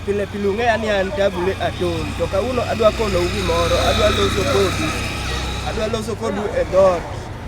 Pile pile ung'eya ni an Tabule Aton, to kawuono adwa konou gimoro, adwa loso kodu, adwa loso kodu e dot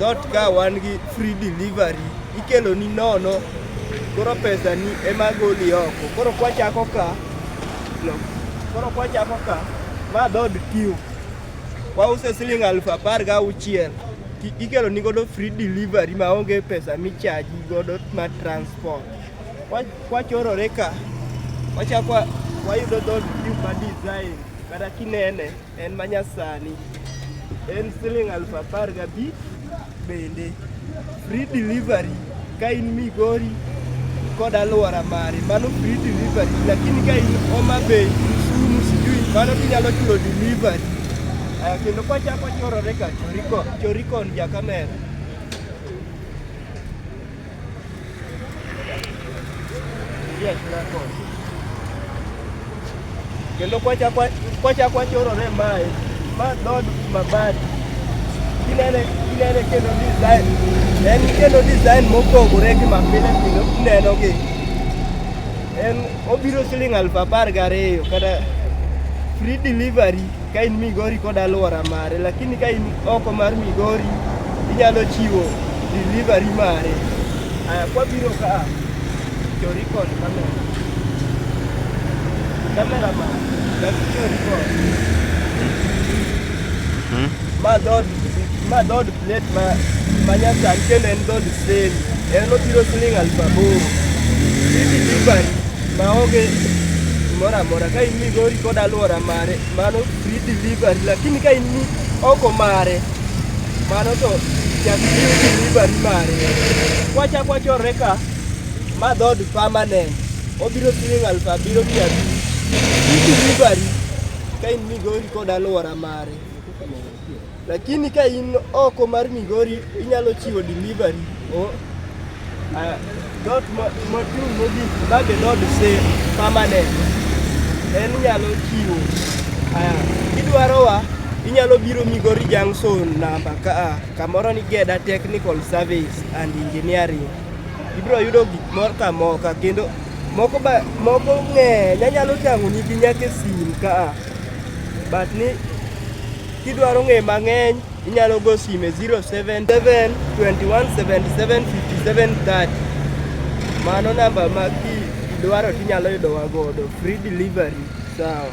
dot ka wan gi free delivery, ikelo ni nono, koro pesa ni ema goli oko. Koro kwachako ka, koro kwachako ka, ma dod tiyo, wause siling aluf apar ga auchiel ikelo ni godo free delivery maonge pesa michaji godo ma transport Kwachorore ka wachako wayudo dhod ma design kata kinene en manyasani en siling aluf apar gabich bende free delivery ka in Migori kod aluora mari mano free delivery, lakini ka in Homa Bay, Kisumu, sijui mano kinyalo chulo delivery. Aya, kendo kwachako chorore ka chorikon, chorikon ja kamera kendo kwachak wachorore mae ma dod mabati inene inene kendo design en kendo design mopogore gi mapile pile uneno gi en obiro siling' aluf apar gariyo kata free delivery Ka in Migori kod alwora mare, lakini ka in oko mar Migori inyalo chiwo delivery mare. Aya, kwabiro ka chori kod kamera. Kamera ma dak chori kod. Ma dod ma dod Net ma manyatan kendo en dhod seli en obiro siling' aluf aboro. Hizi delivery maonge gimoro amora ka in Migori kod alwora mare mano free delivery lakini ka in ni oko mare mano to nyaka ichiw delivery mare. Kwachak wachorre ka ma dhod permanent obiro siling' aluf abiriyo mia abich. Free delivery ka in Migori kod alwora mare. Lakini ka in oko mar Migori inyalo chiwo delivery o dot mochung' mogik bage dot se permanent en inyalo chiwo kidwarowa inyalo biro Migori Junction namba ka a kamoro ni Geda Technical Service and Engineering. Ibiro yudo gik moro ka moka kendo moko ba moko ng'eny anyalo tang'oni gi nyaka e sim ka a but ni Kidwaro ng'e mang'eny, inyalo go sime 077 2177 Mano namba ma kidwaro tinyalo yudowa godo free delivery. Sawa.